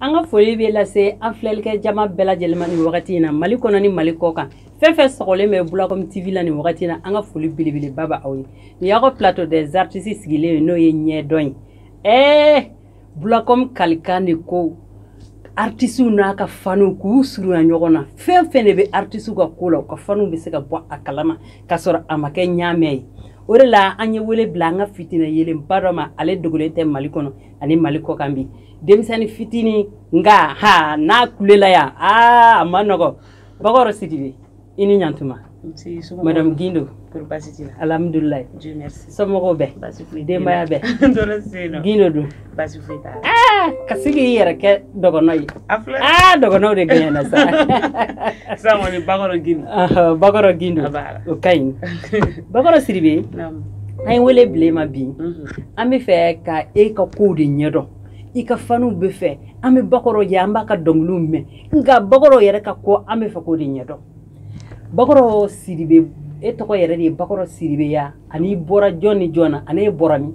an ka foli bɛ lase an filɛlikɛ jama bɛɛ lajɛlen ma nin wagati in na mali kɔnɔ ni mali kɔkan fɛn o fɛn sɔgɔlen bɛ bulakɔmi tv la nin wagati in na an ka foli belebeleba bɛ aw ye nin y'aw ka plateau des artistes sigilen ye n'o ye ɲɛdɔn ye ɛɛ bulakɔmi kalikan don ko artisiw n'u ka faniw k'u surunya ɲɔgɔn na fɛn o fɛn de bɛ artisiw ka ko la u ka faniw bɛ se ka bɔ a kalama k'a sɔrɔ a ma kɛ ɲaamɛ ye o de la an ye wele bila an ka fitinɛ yelenba dɔ ma ale dogolen tɛ mali kɔnɔ ani mali kɔkan bi denmisɛnnin fitinin nka ha n'a kulela yan aa a man nɔgɔ bakɔrɔ sidibe i ni ɲantuma madame gindo alhamdulilayi somɔgɔw bɛ denbaya bɛ gindo dun ka sigi i yɛrɛ kɛ dɔgɔnɔ ye aa dɔgɔnɔw de gɛnyɛna sa bakɔrɔ gindo o ka ɲi bakɔrɔ sidibe an ye wele bila e ma bi mhm. an b'a fɛ ka e ka kow de ɲɛdɔn i ka faniw b'a fɛ an bɛ bakɔrɔ ye an b'a ka dɔnkiliw mɛn nka bakɔrɔ yɛrɛ ka ko an b'a fɛ k'o de ɲɛdɔn bakɔrɔ sidibe e tɔgɔ yɛrɛ de ye bakɔrɔ sidibe ye wa ani i bɔra jɔn ni jɔn na ani e bɔra min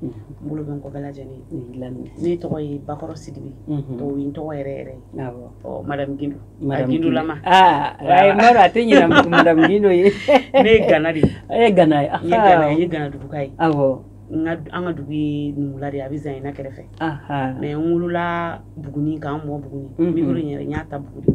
n bolo bɛ n kɔ bɛɛ lajɛlen ye ne tɔgɔ ye bakɔrɔ sidibe o ye n tɔgɔ yɛrɛ yɛrɛ ye madamu gindo gindolama mɔdɔ a tɛ ɲinɛ madamu gindo ye ne ye gana de ye e ye gana ye n ye gana ye n ye ganaduguka ye awɔ n ka an ka dugu ye numula de ye a bɛ zanyena kɛrɛfɛ mais n wolola buguni ka n lamɔ buguni n bɛ yɔrɔ in yɛrɛ n y'a ta buguni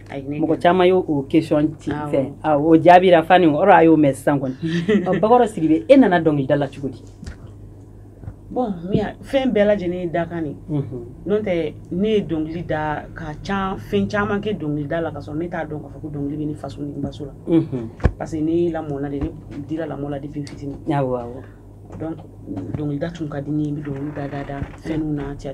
mɔgɔ caman y'o o question ci fɛ o jaabira faniw ye a y'o mɛn sisan kɔni bakɔrɔ sidibe e nana dɔnkilida la cogo di bon fɛn bɛɛ lajɛlen ye dakan de n'o tɛ ne ye dɔnkili da ka ca fɛn caman kɛ dɔnkilida la k'a sɔrɔ ne t'a dɔn k'a fɔ ko dɔnkili bɛ ne faso ni baso la parce que ne lamɔna de ne dira lamɔ la depuis fitini dɔnkilida tun ka di ne ye n bɛ dɔnkili da da da fɛnw na cɛ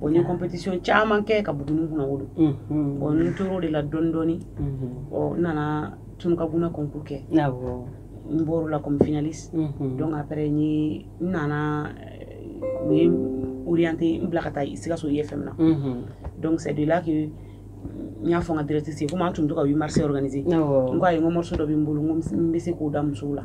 Bon n ye competition caman kɛ ka buguni kunnawolo bon n tor'o de la dɔɔni dɔɔni ɔ n nana Tounkagouna concours kɛ n bɔr'o la comme finaliste donc après n ye n nana u ye n orienter n bila ka taa Sikasso IFM na donc c'est de là que n y'a fɔ n ka directrice ye comme an tun bɛ to ka 8 mars organiser n ko ayi n ko morceau dɔ bɛ n bolo n ko n bɛ se k'o da musow la.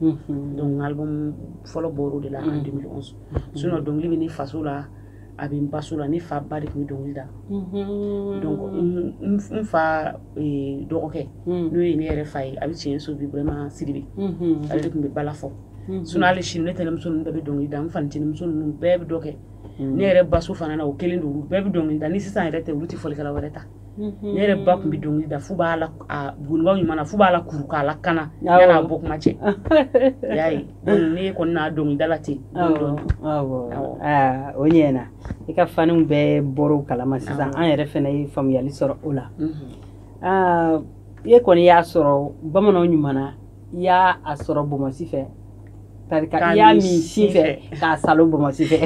donc album fɔlɔ bɔra de là en 2011 sinon dɔnkili bɛ ne faso la a bɛ n baso la ne fa ba de tun bɛ dɔnkili da n fa dɔgɔkɛ n'o ye ne yɛrɛ fa ye a bɛ tiɲɛso burama sidibe ale de tun bɛ bala fɔ sun ale sini ne tɛnɛnmuso bɛɛ bɛ dɔnkili da n fa tɛnɛnmuso ninnu bɛɛ bɛ dɔ kɛ ne yɛrɛ baso fana na o kelen don bɛɛ bɛ dɔnkili da ni sisan yɛrɛ tɛ olu tɛ fɔlikɛla wɛrɛ ta Mhm. ne yɛrɛ ba tun bɛ dɔnkili da fo b'a la gonibaw ɲuman na fo b'a la kuru k'a la kana yan'a bɔ kuma cɛ y'a ye ne kɔni na dɔnkilida la ten o ɲɛna i ka faniw bɛɛ bɔr'o kalama sisan an yɛrɛ fana ye faamuyali sɔrɔ o la mhm. i kɔni y'a sɔrɔ bamananw ɲuman na i y'a a sɔrɔ bɔmɔsi fɛ parce que i y'a min sin fɛ k'a salo bɔmɔsi fɛ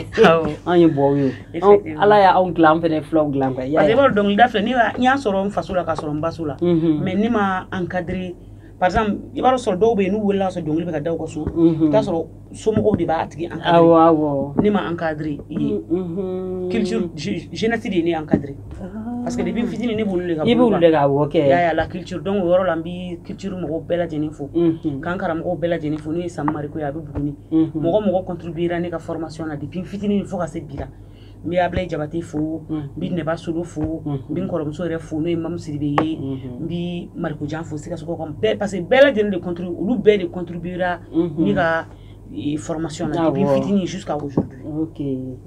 an ye bɔw ye ala y'a anw dilan an fɛnɛ fulaw dilan quoi parce que i b'a dɔnkilida filɛ ne n y'a sɔrɔ n faso la k'a sɔrɔ n baso la mhm. mais ne ma encadrer par exemple i b'a sɔrɔ dɔw bɛ yen n'u welela ka sɔrɔ dɔnkili bɛ ka da u ka so i bɛ t'a sɔrɔ somɔgɔw de b'a tigi encadrer ne ma encadrer i ye mm-hmm. culture jeunesse de ye ne encadrer ah. parce que depuis fitini ne b'olu de ka i b'olu de ka wɔ kɛ y'a la culture donc o yɔrɔ la n bi culture mɔgɔw bɛɛ lajɛlen fo mm-hmm. ka n karamɔgɔw bɛɛ lajɛlen fo n'o ye Sam Mariko ye a bɛ Buguni mm-hmm. mɔgɔ mɔgɔ contribuera ne ka formation na depuis fitini fo ka se bi la n bɛ ablayi jabate fo n bɛ nɛba solo fo n bɛ n kɔrɔmuso yɛrɛ fo n'o ye mamu sidibe ye n bɛ marikojan fo sikasokaw bɛɛ parce que bɛɛ lajɛlen de contrib olu bɛɛ de contribuera ne ka formation na depuis fitini jusqu'à aujourd'hui ok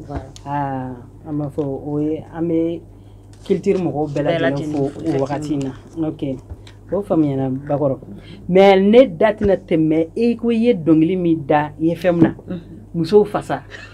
voilà aa an b'a fɔ o ye an bɛ culture mɔgɔw bɛɛ lajɛlen fo o wagati in na ok o faamuyana bakɔrɔ mais ne da tɛna tɛmɛ e ko i ye dɔnkili min da i ye fɛn min na musow fasa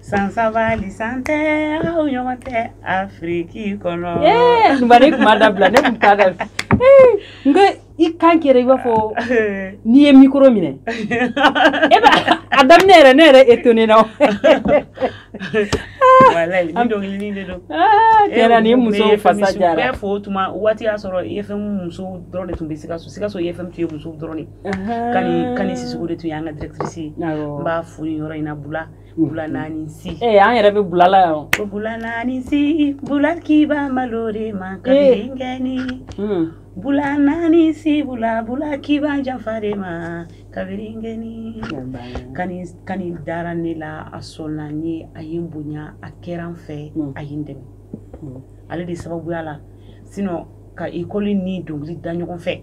san saba ni san tɛ aw ɲɔgɔn tɛ afiriki kɔnɔ ɲuman ne kuma dabila ne tun ta da nka i kan kɛra i b'a fɔ n'i ye mikoro minɛ e b'a a daminɛ yɛrɛ ne yɛrɛ etonena walayi ni dɔnkili de don kɛra ni musow fasa dara bɛɛ fo tuma waati y'a sɔrɔ efɛmu musow dɔrɔn de tun bɛ sikaso sikaso efɛmu tun ye musow dɔrɔn de kani sisoko de tun y'an ka directrice ye n b'a fo ni yɔrɔ in na bula bula naani si ee an yɛrɛ bɛ bula la yan ko bula naani si bula kiba malo de ma ka denkɛni bula naani si bula bula kiba janfa de ma kabiri n kɛni kani kani dara ne la a sɔnna n ye a ye n bonya a kɛra n fɛ a ye n dɛmɛ ale de sababuya la sinon ka ekɔli ni dɔnkili da ɲɔgɔn fɛ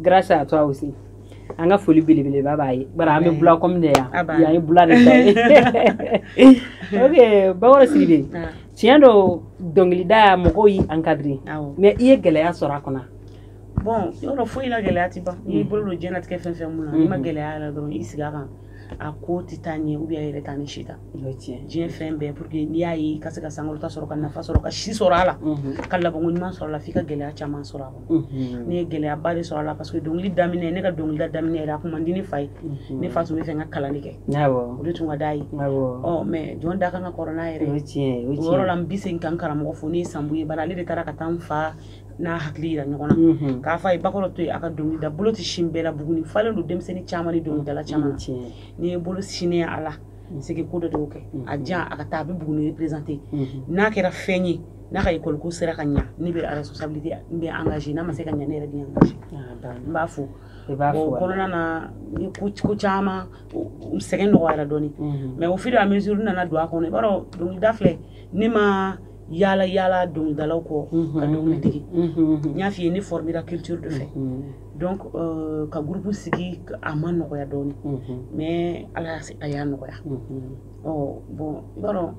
Grace à toi aussi an ka foli belebeleba b'a ye bari an bɛ bula kɔmi de yan yan ye bula de ta ye ok bakɔrɔ sidibe tiɲɛ don dɔnkilidaya mɔgɔw y'i encadre mais i ye gɛlɛya sɔrɔ a kɔnɔ bon yɔrɔ foyi la gɛlɛya tɛ ban n'i bolo don diɲɛnatigɛ fɛn fɛn min na n'i ma gɛlɛya la dɔrɔn i sigi a kan a ko tɛ taa ɲɛ u yɛrɛ taa ni si ta diɲɛ fɛn bɛɛ pour n'i y'a ye ka se ka san ta sɔrɔ ka nafa sɔrɔ ka si sɔrɔ a la ka la ɲuman sɔrɔ a la i ka gɛlɛya caman sɔrɔ a kɔnɔ ne ye gɛlɛyaba de sɔrɔ a la parce que dɔnkili daminɛ ne ka dɔnkilida daminɛ a kun man di n fa ye ne fa tun b'a fɛ n ka kalan de kɛ o de tun ka d'a ye mais jɔn dakan ka kɔrɔ' yɛrɛ tiɲɛ yɔrɔ la bɛ se ka karamɔgɔ fo n'o ye san ye bara ale de taara ka taa n fa n'a hakili jira ɲɔgɔn na mhm. k'a fɔ a ye bakɔrɔ to yen a ka dɔnkili da bolo tɛ sin bɛɛ la buguni falen don denmisɛnnin caman ni dɔnkilidala caman n'i ye bolo sinnen a la sigi ko dɔ dɔw kɛ mhm. a jan a ka taa a bɛ buguni représenter mhm. n'a kɛra fɛn ye n'a ka école ko sera ka ɲa ne bɛ responsabilité n bɛ engagé n'a ma se ka ɲa ne yɛrɛ bɛ engagé ah, n b'a fo o kɔnɔna na ni ko caman sɛgɛn nɔgɔyara dɔɔnin mais au fur et à mesure n nana don a kɔnɔ i b'a dɔn dɔnkilida filɛ ne ma yaala yaala dɔnkilidalaw kɔ ka dɔnkili dege n y'a f'i ye ne fɔrɔmira culture de fɛ donc euh, ka groupe sigi a ma nɔgɔya dɔɔni mais ala a y'a nɔgɔya ɔ bon i b'a dɔn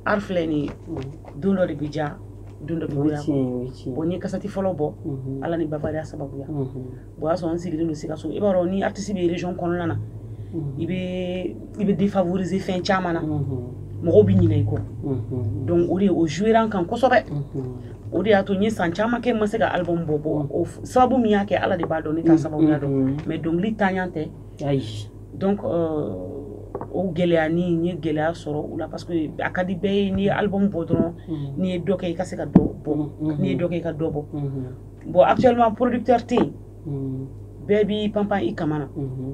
art filɛ nin ye don dɔ de bɛ diya don dɔ bɛ goya a kɔnɔ bon n ye kasɛti fɔlɔ bɔ ala ni bavaria sababuya o y'a sɔrɔ n sigilen don sikaso i b'a dɔn ni artiste bɛ region kɔnɔna na i bɛ i bɛ défavoriser fɛn caman na mɔgɔw bɛ ɲinɛ i kɔ donc o de o jouera n kan kosɛbɛ o de y'a to n ye san caman kɛ n ma se ka album bɔ bɔ o sababu min y'a kɛ ala de b'a dɔn ne t'a sababuya dɔn mais dɔnkili ntanya tɛ ayi donc euh, o gɛlɛya ni n ye gɛlɛya sɔrɔ o la parce que a ka di bɛɛ ye n'i ye album bɔ dɔrɔn n'i ye dɔ kɛ i ka se ka dɔ bɔ n'i ye dɔ kɛ i ka dɔ bɔ bon actuellement producteur tɛ yen mm. bɛɛ b'i panpan i kaman na mm-hmm.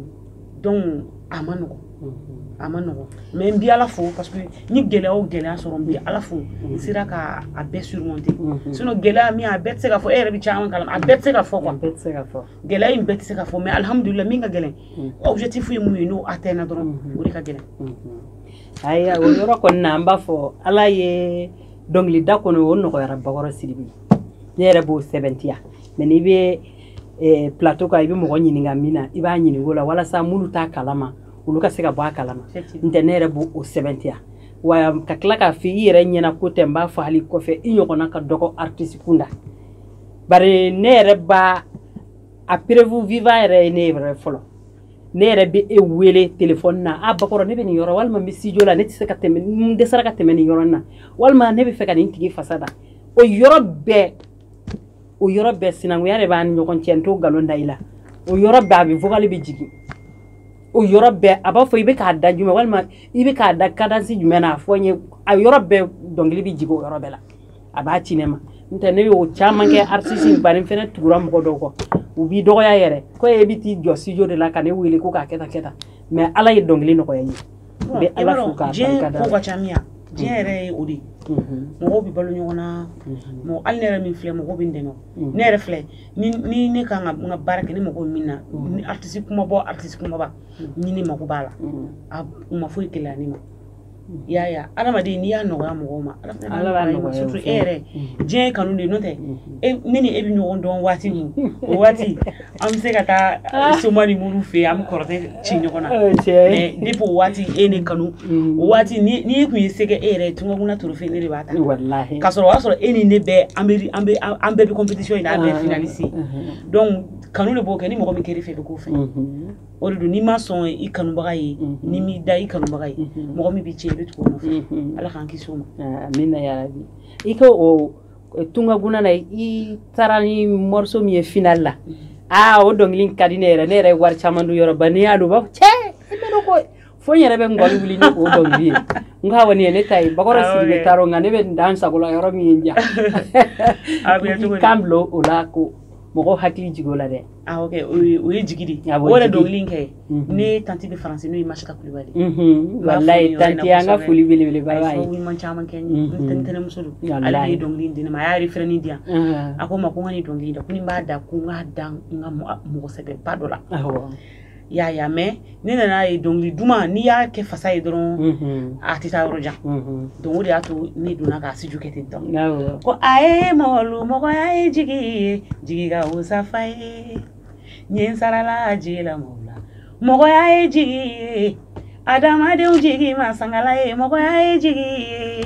donc a man nɔgɔn mm-hmm. a man nɔgɔn mais n bi ala fo parce que n ye gɛlɛya o gɛlɛya sɔrɔ n bi ala fo n mm-hmm. sera ka a bɛɛ surmonter sinon gɛlɛya min a bɛɛ tɛ se ka fɔ e yɛrɛ bɛ caman kalama a bɛɛ tɛ se ka fɔ quoi gɛlɛya in bɛɛ tɛ se ka fɔ mais alhamdulillah min ka gɛlɛn objectif ye mun ye n'o atteindre dɔrɔn o de ka gɛlɛn ayiwa o yɔrɔ kɔni na an b'a fɔ ala ye dɔnkilida kɔni o nɔgɔyara bakɔrɔ sidibe ne yɛrɛ b'o sɛmɛntiya mais n'i bɛ eh, plateau kan i bɛ mɔgɔ ɲininka min na i b'a ɲininka la walasa minnu t'a kalama olu ka se ka bɔ a kalama ntɛ ne yɛrɛ b'o o sɛmɛntiya wa ka tila k'a fɔ i yɛrɛ ɲɛna ko tɛ n b'a fɔ hali kɔfɛ i ɲɔgɔnna ka dɔgɔ artiste kunda bari ne yɛrɛ b'a a preuve vivant yɛrɛ ye ne yɛrɛ fɔlɔ ne yɛrɛ bɛ e wele telefɔni na a bakɔrɔ ne bɛ nin yɔrɔ walima n bɛ studio la ne tɛ se ka tɛmɛ n dɛsɛra ka tɛmɛ nin yɔrɔ in na walima ne bɛ fɛ ka nin tigi fasa da o yɔrɔ bɛɛ o yɔrɔ bɛɛ sinankunya de b'a ni ɲɔgɔn cɛ n t'o nkalon da i la o yɔrɔ bɛɛ a bɛ vokali bɛ jigin o yɔrɔ bɛɛ a b'a fɔ i bɛ k'a da jumɛn walima i bɛ k'a da kadansi jumɛn na a fɔ n ye a yɔrɔ bɛɛ dɔnkili bɛ jigin o yɔrɔ bɛɛ la a b'a ci ne ma ntɛ ne y'o caman kɛ artiste bari fɛnɛ tugura mɔgɔ dɔw kɔ u b'i dɔgɔya yɛrɛ ko e bɛ t'i jɔ studio de la ka ne wele ko k'a kɛ tan kɛ tan mais ala ye dɔnkili nɔgɔya i ye bɛ ala fo k'a barika da ko ka ca min diɲɛ yɛrɛ ye o de ye mɔgɔw bɛ balo ɲɔgɔn na mɔgɔ hali ne yɛrɛ min filɛ mɔgɔw bɛ n dɛmɛ ne yɛrɛ filɛ ni ne kan ka n ka baara kɛ ni mɔgɔw min na ni artiste kumaba artiste kumaba ni ne mago b'a la a u ma foyi gɛlɛya ne ma i y'a ye adamaden n'i y'a nɔgɔya mɔgɔw ma ala b'a nɔgɔya surtout e yɛrɛ diɲɛ ye kanu de ye n'o tɛ ne ni e bɛ ɲɔgɔn dɔn waati min o waati An bɛ se ka taa ah. soma ni mori fɛ an bɛ kɔrɔtɛ ci ɲɔgɔn na eh, ne b'o waati e ye ne kanu mm. o waati n'i tun ye se e yɛrɛ ye tungaguna trophée ne de b'a ta ka sɔrɔ o y'a sɔrɔ e ni ne bɛɛ an bɛɛ bɛ compétition bɛɛ ah. finali se mm-hmm. donc kanu de b'o kɛ ni mɔgɔ min kɛr'i fɛ i bɛ k'o fɛ mm-hmm. o de don n'i ma sɔn i kanubaga ye mm-hmm. n'i m'i da i kanubaga ye mɔgɔ min bɛ cɛ i bɛ tugu ala k'an kisi ma ah, min na i ka eh, tungaguna na i taara ni morceau min ye final la mm-hmm. aa ah, o dɔnkili ka di ne yɛrɛ ne yɛrɛ ye wari caman du yɔrɔ ba n'i y'a don b'a fɔ cɛ i bɛ dɔn ko fo n yɛrɛ bɛ ngɔli wuli ni o dɔnkili ye n ko awɔ nin ye ne ta ye bakɔrɔ ah, siri bɛ taarɔ nka ne bɛ n dan sagola yɔrɔ min ye n ja kan bila o la ko mɔgɔ hakili jigi o la dɛ ah, o ye jigi de o yɛrɛ dɔnkili in kɛ mhm. ne tanti bɛ faransi n'o ye masika kulubali mhm. walayi tanti an ka foli belebeleba y'a ye ɲuman caman kɛ n ye mhm. n tɛnɛmuso don ale de ye dɔnkili in di ne ma a y'a refrain in di yan a ko n ma ko n ka nin dɔnkili in da ko ni n b'a da ko n k'a da n ka mɔgɔ sɛbɛba dɔ la y'a y'a mɛ ne nan'a ye dɔnkili duman n'i y'a kɛ fasa ye dɔrɔn a tɛ taa yɔrɔ jan donc o de y'a to ne donna k'a sujet kɛ ten dɔn ko a ye mɔgɔlu mɔgɔya ye jigi ye jigi ka wusa fa ye ɲɛ sarala jigi la mɔgɔ la mɔgɔya ye jigi ye adamadenw jigi ma sangala ye mɔgɔya ye jigi ye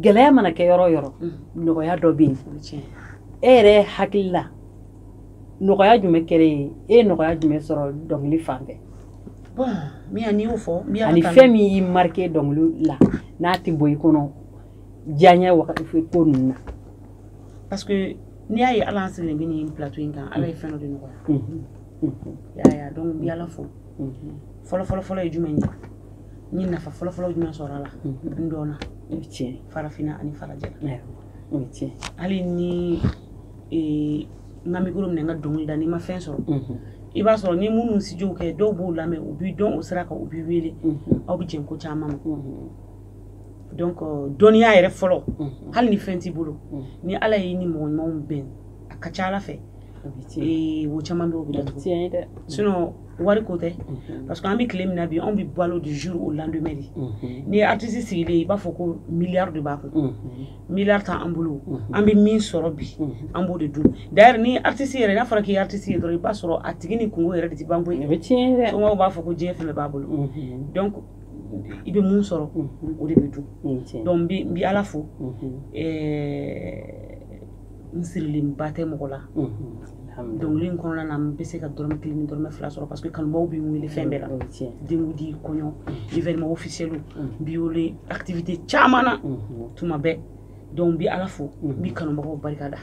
gɛlɛya mana kɛ yɔrɔ yɔrɔ nɔgɔya dɔ bɛ yen e yɛrɛ hakili la nɔgɔya jumɛn kɛra i ye e ye nɔgɔya jumɛn sɔrɔ dɔnkili fan fɛ ani fɛn min y'i marquer dɔnkili la n'a tɛ bɔ i kɔnɔ diyaɲɛ wagati ko ninnu na parce que n'i y'a ye ala an sigilen bɛ nin plateau in kan ala ye fɛn dɔ de nɔgɔya y'a ye donc n bɛ ala fo fɔlɔ fɔlɔ fɔlɔ ye jumɛn ye n ye nafa fɔlɔfɔlɔ jumɛn sɔrɔ a la n dɔnna tiɲɛ farafinna ani farajɛ o ye tiɲɛ hali ni n ka mikoro minɛ n ka dɔnkili da n'i ma fɛn sɔrɔ i b'a sɔrɔ ni minnu sujet kɛ dɔw b'u lamɛn u b'i dɔn o sira kan u b'i wele aw bɛ jɛn ko caman ma donc dɔnniya yɛrɛ fɔlɔ hali ni fɛn t'i bolo ni ala y'i ni mɔgɔ ɲumanw bɛn a ka ca a la fɛ wo caman bɛ o bɛ datugu sinon wari ko tɛ mhm. parce que an bɛ tile min na bi anw bɛ balo du jour au lendemain de mhm. n'i ye artiste sigilen ye i b'a fɔ ko milliard de b'a kun mhm. milliard t'an bolo an bɛ min sɔrɔ bi an b'o de dun d'ailleurs ni artiste yɛrɛ n'a fɔra k'i ye artiste ye dɔrɔn i b'a sɔrɔ a tigi ni kunko yɛrɛ de tɛ ban koyi somɔgɔw b'a fɔ ko diɲɛ fɛn bɛɛ b'a bolo donc i bɛ mun sɔrɔ o de bɛ dun donc n bɛ ala fo ɛɛ n sirilen ba tɛ mɔgɔ la donc nin kɔnɔna na n bɛ se ka dɔrɔmɛ kelen ni dɔrɔmɛ fila sɔrɔ parce que kanubagaw bɛ n wele fɛn bɛɛ la denkundi kɔɲɔ événement officiel n bɛ wele activité caman na tuma bɛɛ donc n bɛ ala fo n bɛ kanubagaw barika da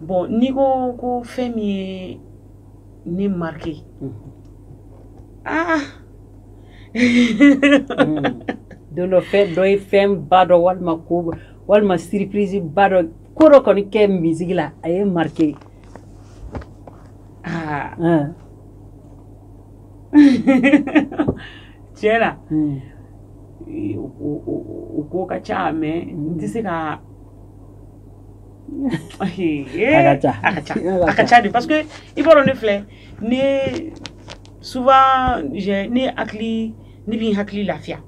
bon n'i ko ko fɛn min ye ne marqué ah don dɔ fɛn dɔ ye fɛnba dɔ walima ko walima surprise ba dɔ ko dɔ kɔni kɛ musique la a y'i marqué ah. tiɲɛ la hmm. o ko ka ca mais n tɛ se ka a ka ca de parce que i b'a dɔn ne filɛ ne souvent ne hakili ne bɛ hakili lafiya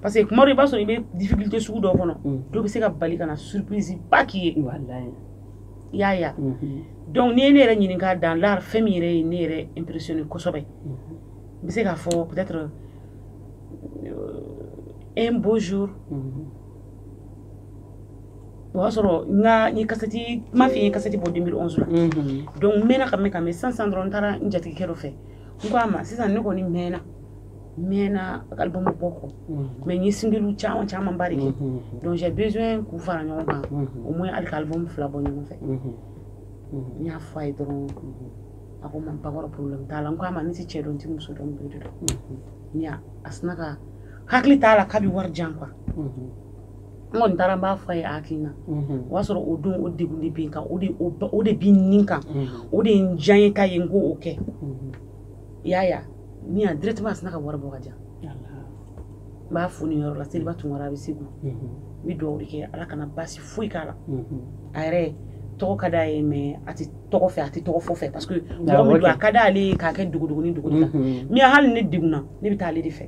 parce que tuma dɔ i b'a sɔrɔ i bɛ difficulté sugu dɔ kɔnɔ dɔ bɛ se ka bali ka na surprise ba k'i ye i y'a ye donc n'i ye ne yɛrɛ ɲininka dans l'art fɛn min yɛrɛ ye ne yɛrɛ impressionné kosɛbɛ n bɛ se k'a fɔ peut-être un beau jour o y'a sɔrɔ n ka n ye kasɛti n m'a f'i ye kasɛti bɔ 2011 la donc n mɛnna ka mɛn ka mɛn sisan sisan dɔrɔn n taara n jatigikɛ dɔ fɛ n ko a ma sisan ne kɔni mɛnna mɛnna album bɔ kɔ mais n ye singlew caman caman ba de kɛ donc j'ai besoin k'u fara ɲɔgɔn kan au moins hali ka album fila bɔ ɲɔgɔn fɛ n y'a fɔ a ye dɔrɔn a ko n ma bakɔrɔ problème t'a la n ko a ma ne tɛ cɛ dɔn n tɛ muso dɔn n b'e de dɔn a sina ka hakili t'a la k'a bɛ wari jan kuwa n kɔni taara n b'a fɔ a ye a hakilina mhm. o y'a sɔrɔ o don o degun de bɛ n kan o de o de bi nin kan mhm. o de ye n diya ye k'a ye n ko o kɛ mhm. i y'a ye ni yan directement a sina ka wari bɔ k'a di yan n b'a fo nin yɔrɔ la seliba tunkara a bɛ segu n bɛ dugawu de kɛ ala kana baasi foyi k'a la a yɛrɛ tɔgɔ ka d'a ye mais a tɛ tɔgɔ fɛ a tɛ tɔgɔ fɔ fɛ parce que mɔgɔ min don a ka d'ale ye k'a kɛ dogodogonin dogo la mais hali ne degunna ne bɛ taa ale de fɛ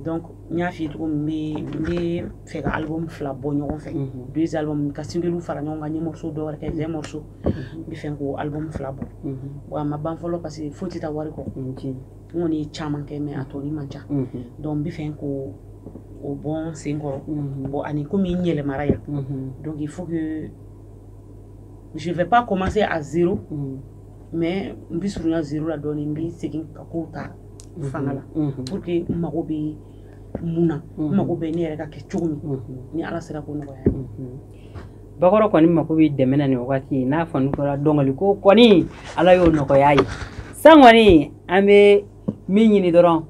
donc n y'a f'i ye cogo min n bɛ fɛ ka album fila bɔ ɲɔgɔn fɛ mhm. deux album ka singles fara ɲɔgɔn kan n ye morceau dɔ wɛrɛ kɛ vingt morceau mhm. n bɛ fɛ k'o album fila bɔ mhm. wa a ma ban fɔlɔ parce que foyi tɛ taa wari kɔ n kɔni ye caman kɛ mais a tɔni man ca donc n bɛ fɛ k'o bɔ n sen kɔrɔ bon ani komi n yɛlɛmara yan donc il faut que je vais pas commencer à zéro mais n bɛ surunya zéro la dɔɔnin n bɛ segin ka kow ta mhm. fanga la mhm. pour que n mago bɛ mun na n mhm. mago bɛ ne yɛrɛ ka kɛ cogo min ni ala sera ko nɔgɔya bakɔrɔ kɔni mago bɛ dɛmɛ na nin wagati n'a fɔ n'a kɛra dɔnkili ko kɔni ala y'o nɔgɔya i ye san kɔni an bɛ min ɲini dɔrɔn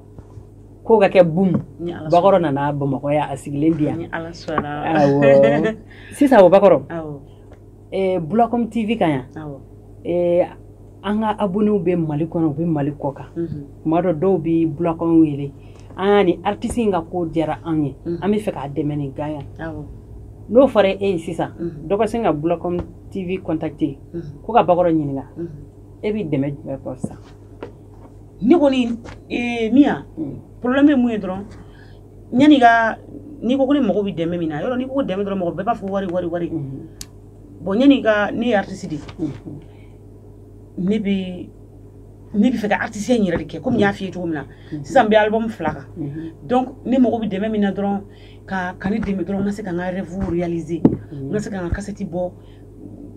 ko ka kɛ bum bakɔrɔ nana bamakɔ yan a sigilen bi yan sisan o bakɔrɔ eh, Bulacom TV kan yan awɔ eh, an ka abonnés bɛ Mali kɔnɔ u bɛ Mali kɔkan mhm, tuma dɔ dɔw bɛ Bulacom wele an y'a ni artiste in ka ko diyara anw ye Mhm. an bɛ fɛ k'a dɛmɛ nin gan yan awɔ n'o fɔra e ye sisan Mhm. dɔ ka sin ka Bulacom TV contacter mhm, ko ka bakɔrɔ ɲininka mhm. e bɛ dɛmɛ jumɛn kɔ sisan ne kɔni eh, miya Mm. problème ye min ye dɔrɔn Yan'i ka n'i ko ko ne mago bɛ dɛmɛ min na yɔrɔ n'i ko ko dɛmɛ dɔrɔn mɔgɔ bɛɛ b'a fɔ wari wari wari bon yan'i ka ne ye artiste de ye ne bɛ ne bɛ fɛ ka artiste in yɛrɛ de kɛ komi n y'a f'i ye cogo min na sisan n bɛ album fila kan donc ne mago bɛ dɛmɛ min na dɔrɔn ka ka ne dɛmɛ dɔrɔn n ka se ka n ka rêve réaliser n ka se ka n ka cassette bɔ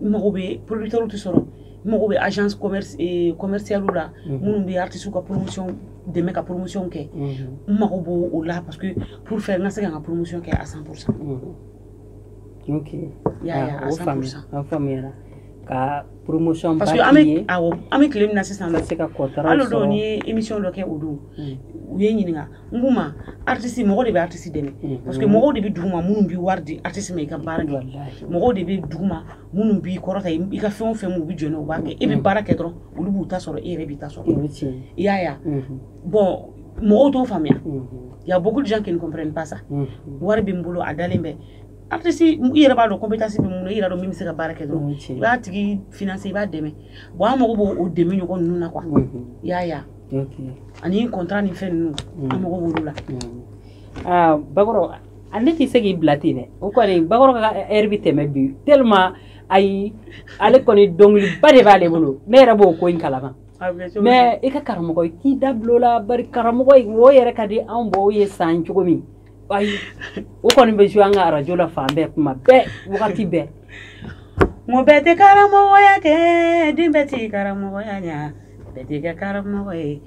n mago bɛ producteurs tɛ sɔrɔ n mago bɛ agence commerce commerciale la minnu bɛ artistes ka promotion dɛmɛ ka promotion kɛ n mago b'o la parce que pour faire n ka se ka n ka promotion kɛ à 100 pour cent ok i y'a ye à 100 pour cent an faamuyara ka promotion ba k'i ye awɔ an bɛ tile min na sisan ka se ka contrat sɔrɔ hali o don n ye émission dɔ kɛ o don u ye n ɲininka n k'u ma artiste mɔgɔ de bɛ artiste dɛmɛ parce que mɔgɔw de bɛ duguma minnu bɛ wari di artiste ma i ka baara kɛ mɔgɔw de bɛ duguma minnu b'i kɔrɔta i ka fɛn o fɛn u bɛ jɔ u b'a kɛ e bɛ baara kɛ dɔrɔn olu b'u ta sɔrɔ e yɛrɛ b'i ta sɔrɔ i y'a ye bon mɔgɔw t'o faamuya y a beaucoup de gens qui ne comprennent pas ça wari bɛ n bolo a dalen bɛ artiste i yɛrɛ b'a dɔn compétence bɛ min na i yɛrɛ dɔn min bɛ se ka baara kɛ dɔrɔn i b'a tigi financer i b'a dɛmɛ bon an mago b'o dɛmɛ ɲɔgɔn ninnu na quoi i y'a ye ani contrat ni fɛn ninnu an mago b'olu la bakɔrɔ A ne tɛ se k'i bila ten dɛ o kɔni bakɔrɔ bɛ tɛmɛ bi tellement ayi ale kɔni dɔnkiliba de b'ale bolo ne yɛrɛ b'o ko in kalama mais i ka karamɔgɔ i k'i da bulonla karamɔgɔ mɔgɔ yɛrɛ ka di anw baw ye san cogo min ayi o kɔni bɛ jouer an ka arajo la fan bɛɛ tuma bɛɛ wagati bɛɛ mɔgɔ bɛɛ tɛ karamɔgɔya kɛ dɛ bɛɛ tɛ karamɔgɔya bɛɛ tɛ karamɔgɔ ye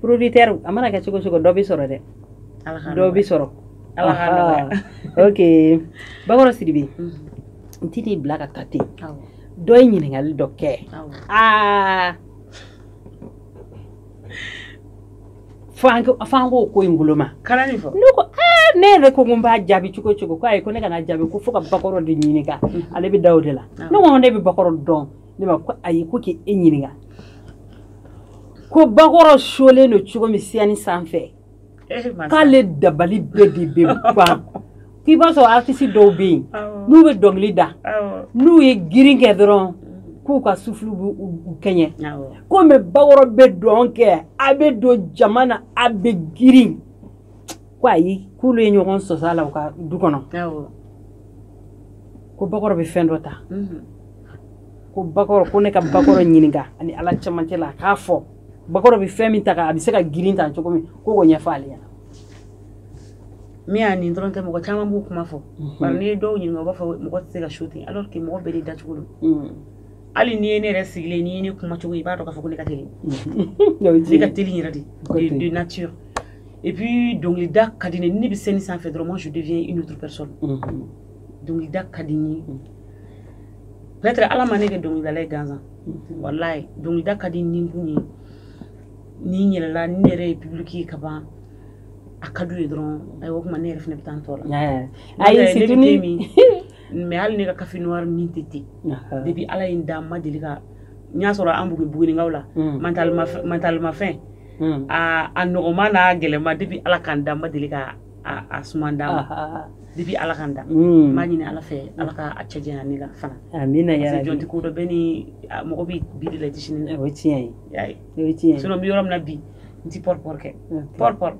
producteur a mana kɛ cogo cogo dɔ bɛ sɔrɔ dɛ dɔ bɛ sɔrɔ ok bakɔrɔ sidibe mhm. n ti n'i bila ka taa ten dɔ ye ɲininkali dɔ kɛ aa f'an k'o ko in bolo ma ne ko ne yɛrɛ ko ko n b'a jaabi cogo cogo ko ayi ko ne kan'a jaabi ko fo ka bakɔrɔ de ɲininka mhm. ale bɛ da o de la ne ko ne bɛ bakɔrɔ dɔn ne ma ko ayi ko k'e ɲininka ko bakɔrɔ solen don cogo min sɛni sanfɛ eh, k'ale dabali bɛɛ de bɛ ban k'i b'a sɔrɔ artisi dɔw bɛ yen n'u bɛ dɔnkili da n'u ye girin kɛ dɔrɔn k'u ka sufulu b'u kɛɲɛ ko mɛ bakɔrɔ bɛ dɔn kɛ a bɛ don jama na a bɛ girin ko ayi k'olu ye ɲɔgɔn sɔsɔ a la u ka du kɔnɔ ko bakɔrɔ bɛ fɛn dɔ ta mhm. ko bakɔrɔ ko ne ka bakɔrɔ ɲininka a ni ala cɛmancɛ la a k'a fɔ bakɔrɔ bɛ fɛn min ta a bɛ se ka girin ta cogo min ko k'o ɲɛfɔ ale ɲɛna min y'a nin dɔrɔn tɛ mɔgɔ caman b'o kuma fɔ mhm. bari n'i ye dɔw ɲininka u b'a fɔ mɔgɔ tɛ se ka su ten alors que mɔgɔ bɛɛ de dacogo don mhm. hali n'i ye ne yɛrɛ sigilen n'i ye ne kuma cogo i b'a dɔn k'a fɔ ko ne ka teli ne ka teli yɛrɛ de de nature et puis dɔnkilida ka di ne ne bɛ sɛni sanfɛ dɔrɔn moi je deviens une autre personne dɔnkilida ka di n ye peut-être ala ma ne kɛ dɔnkilidala ye gansan walayi dɔnkilida ka di n ni kun ye ni n yɛlɛla ne yɛrɛ ye public ye ka ban a ka d'u ye dɔrɔn ayiwa o tuma ne yɛrɛ fana bɛ taa n tɔ la ayi surtout ni min mais hali ne ka kafe noir min tɛ ten depuis ala ye n da n ma deli ka n y'a sɔrɔ an bugu bugunikaw la mantalimafɛn Hmm. Aa a nɔgɔman n'a gɛlɛman depuis ala ka n dan n ma deli ka a suman d'a ma depuis ala ka n dan hmm. b'a ɲini ala fɛ ala ka a cɛ jan ne la fana jɔn ti ko dɔn bɛ ni mɔgɔ bɛ bi de la di sini o tiɲɛ ye tiɲɛ sinɔn n bɛ yɔrɔ min na bi n ti pɔri pɔri kɛ pɔri pɔri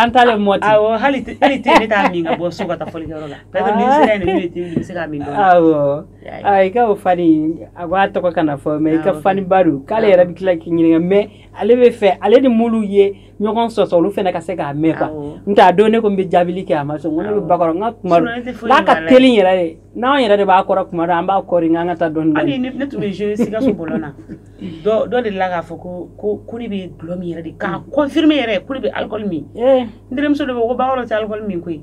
an t'ale mɔ ten awɔ hali te ne t'a min ka bɔ so ka taa fɔlikɛyɔrɔ la peut être ni n sera yen de ne bɛ te min bɛ se k'a min dɔɔni awɔ i ka o fani a b'a tɔgɔ kana fɔ mɛ i ka fani ba don k'ale yɛrɛ bɛ tila k'i ɲininka mɛ ale bɛ fɛ ale ni mulu ye ɲɔgɔn sɔsɔ olu fana ka se k'a mɛn kuwa n t'a dɔn ne ko n bɛ jaabili kɛ a ma sɔn ko ne bɛ bakɔrɔ n ka kuma n'a ka teli yɛrɛ de n'an yɛrɛ de b'a kɔrɔ kuma dɔn an b'a kɔri n ka taa dɔɔni dɔɔni. ne tun bɛ jouer Sikaso bɔlɔn na dɔ dɔ de la k'a fɔ ko ko ko ne bɛ dulɔ min yɛrɛ de k'a confirmer yɛrɛ ko ne bɛ alcool min n terimuso de ko ko bakɔrɔ tɛ alcool min koyi.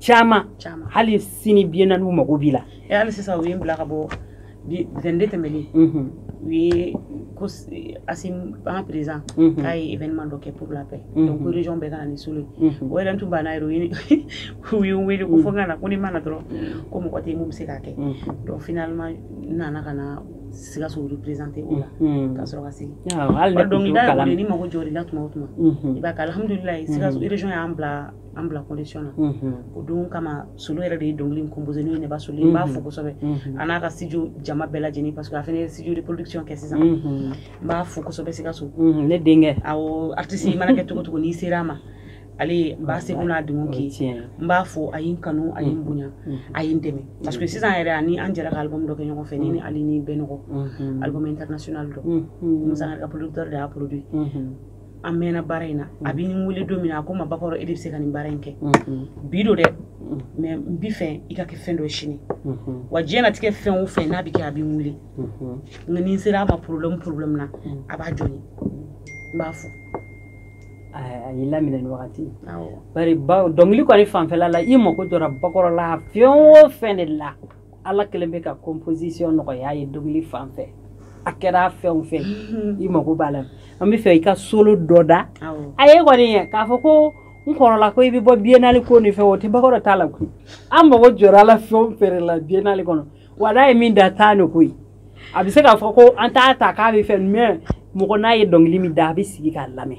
caman hali sini bi naani u mago b'i la eh, hali sisan u ye n bila ka bɔ zɛnde tɛmɛnen mhm. u ye ko asimi en présent mhm. k'a ye événement dɔ kɛ pour la paix mhm. donc ko région bɛɛ ka na ni solo ye o yɛrɛ tun banna yɛrɛ u ye n wele ko fo n ka na ko ni n ma na dɔrɔn ko mɔgɔ tɛ yen min bɛ se k'a kɛ donc finalement n nana ka na sikaso représenter o la mm-hmm. ka sɔrɔ ka segin dɔnkilida yɛrɛ ni mago jɔra i la tuma o tuma mm-hmm. i b'a kɛ alhamdulilayi sikaso mm-hmm. région y'an bila an bila condition na o don kama solo yɛrɛ de ye dɔnkili composé n'o ye neba solo n b'a fo kosɛbɛ a n'a ka studio jama bɛɛ lajɛlen parce que a fana ye studio de production kɛ sisan n b'a fo kosɛbɛ sikaso ne denkɛ awɔ artiste i mana kɛ cogo cogo n'i sera a ma ale n b'a seko n'a denw k'i n b'a fo a ye n kanu a ye n bonya a ye n dɛmɛ parce que sisan yɛrɛ ani an jɛra ka album dɔ kɛ ɲɔgɔn fɛ ne ni ale ni bɛnɔgɔ album international dɔ musa ka producteur de y'a produit an mɛnna baara in na a bɛ n wele don min na a ko n ma bakɔrɔ e de bɛ se ka nin baara in kɛ bi don dɛ mais n b'i fɛ i ka kɛ fɛn dɔ sini wa diɲɛnatigɛ fɛn o fɛn n'a bɛ kɛ a bɛ n wele nka ni n sera a ma problème problème na a b'a jɔ n b'a fo a y'i laminɛ nin wagati bari dɔnkili kɔni fanfɛla la i mako jɔra bakɔrɔ la fɛn o fɛn de la ala kelen bɛ ka composition nɔgɔya a ye dɔnkili fan fɛ a kɛra fɛn fɛn mhm. i mako b'a la an b'a fɛ i ka solo dɔ da a ye kɔni ye k'a fɔ ko n kɔrɔla ko i bɛ bɔ biennale ko nin fɛ o tɛ bakɔrɔ t'a la koyi an mago jɔra a la fɛn fɛn la biennale kɔnɔ wa n'a ye min da tan de koyi a bɛ se k'a fɔ ko an t'a ta k'a bɛ fɛ mais mɔgɔ n'a ye dɔnkili min da a bɛ sigi k'a lamɛn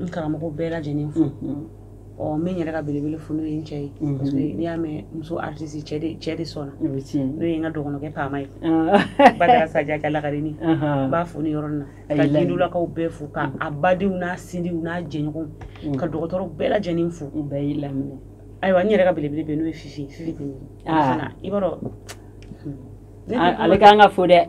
n karamɔgɔ bɛɛ lajɛlen fo ɔ n bɛ n yɛrɛ ka belebele fo n'o ye n cɛ ye parce que n'i y'a mɛn muso artiste cɛ de cɛ de sɔnna n'o ye n ka dɔgɔnɔkɛ paama ye badara saja ka lakarini n b'a fo nin yɔrɔnin na ka jindulakaw bɛɛ fo ka a badenw n'a sinjiw n'a jɛɲɔgɔnw ka dɔgɔtɔrɔ bɛɛ lajɛlen fo u bɛɛ y'i laminɛ ayiwa n yɛrɛ ka belebele bɛ n'o ye fifi fifi bɛ fana i b'a dɔn ale k'an ka fo dɛ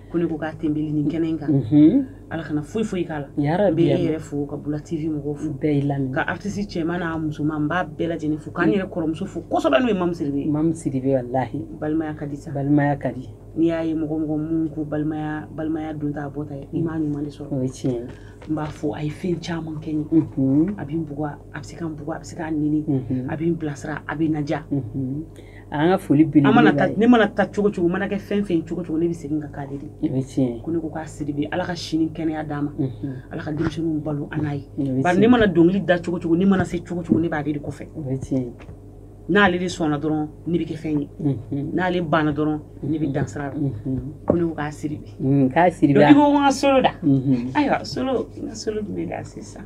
ko ne ko k'a tenbeli nin kɛnɛ in kan mhm. ala kana foyi foyi k'a la n bɛ e yɛrɛ fo ka bula tv mɔgɔw fo bɛɛ lajɛlen ka artiste cɛman n'a musoman n b'a bɛɛ lajɛlen fo ka n yɛrɛ kɔrɔmuso fo kosɛbɛ n'o ye mamu sidibe ye mamu sidibe walahi balimaya ka di sa balimaya ka di n'i y'a ye mɔgɔ mɔgɔ minnu ko balimaya balimaya don t'a bɔ ta ye i m'a ɲuman de sɔrɔ o ye tiɲɛ ye n b'a fo a ye fɛn caman kɛ n ye mhm. a bɛ n bugɔ a bɛ se ka n bugɔ a bɛ se ka n nɛni mhm. a bɛ n bilasira a bɛ n naja an ka foli bi mana ne mana taa cogo cogo mana kɛ fɛn fɛn cogo cogo ne bɛ segin ka k'ale de ye ko ne ko k'a sidibe ala ka si ni kɛnɛya d'a ma ala ka denmisɛnninw balo an n'a ye bari ne mana dɔnkili da cogo cogo ne mana se cogo cogo ne b'ale de kɔfɛ n'ale de sɔnna dɔrɔn ne bɛ kɛ fɛn ye n'ale banna dɔrɔn ne bɛ dan sira la ko ne ko k'a sidibe k'a sidibe ko n ka solo da ayiwa solo n ka solo tun bɛ da sisan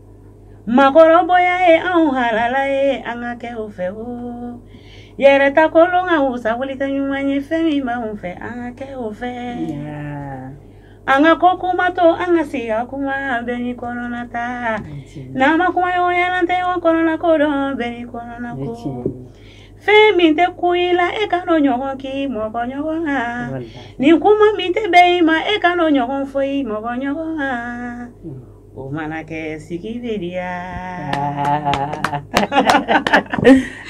Maakɔrɔbonya ye anw halala ye an ka kɛ o fɛ o yɛrɛ ta kolon ka wusa wali ta ɲuman ye fɛn min b' anw fɛ an ka kɛ o fɛ an ka kɔkuma to an ka se ka kuma an bɛɛ n'i kɔnɔnata n'an ma kuma ɲɔgɔn ye an tɛ ɲɔgɔn kɔnɔnako dɔn bɛɛ n'i kɔnɔnako fɛn min tɛ kun i la e kana o ɲɔgɔn k' i mɔgɔ ɲɔgɔn na nin kuma min tɛ bɛn i ma e kana o ɲɔgɔn fɔ i mɔgɔ ɲɔgɔn na O mana kɛ sigi bɛ diya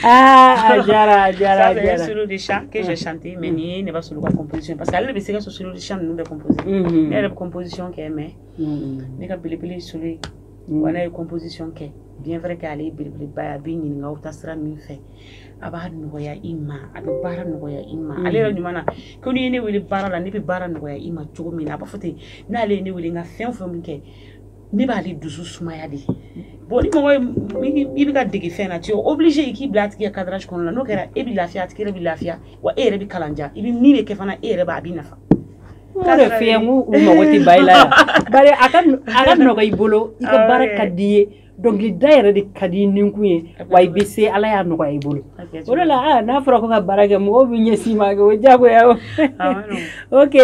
aa diyara diyara diyara suru de san ke chanter mais nin ye ne ba sɔrɔ ka composition parce que ale bɛ se ka so suru san ninnu bɛ composer ne yɛrɛ bɛ composition kɛ mais ne ka belebele so ye wa n ye composition kɛ bien vrai que ale ye belebeleba a bɛ ɲininkakaw ta sira min fɛ a b'a nɔgɔya i ma a bɛ baara nɔgɔya i ma ale yɛrɛ ɲuman na ko n'i ye ne wele baara la ne bɛ baara nɔgɔya i ma cogo min na a b'a fɔ ten n'ale ye ne wele n ka fɛn fɛn min kɛ ne b'ale dusu sumaya de bon ni mɔgɔ ye i bɛ ka dege fɛn na tu es obligé i k'i bila a tigi ka cadrage kɔnɔna na n'o kɛra e bɛ lafiya a tigi yɛrɛ bɛ lafiya wa e yɛrɛ bɛ kalandiya i bɛ min bɛ kɛ fana e yɛrɛ b'a bɛ nafa k'a dɔ f'i ye n ko u mago tɛ ba i la yan bari a ka nɔgɔ i bolo i ka baara ka di i ye dɔnkilida yɛrɛ de ka di ninkun ye wa i bɛ se Ala y'a nɔgɔya i bolo o de la n'a fɔra ko ka baara kɛ mɔgɔw bɛ ɲɛsin ma kɛ o diyagoya o ok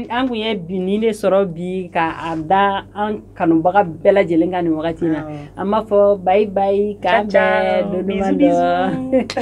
an tun ye bi nin de sɔrɔ bi ka a da an kanubaga bɛɛ lajɛlen kan nin wagati na an b'a fɔ bayi bayi k'an bɛn don duman dɔ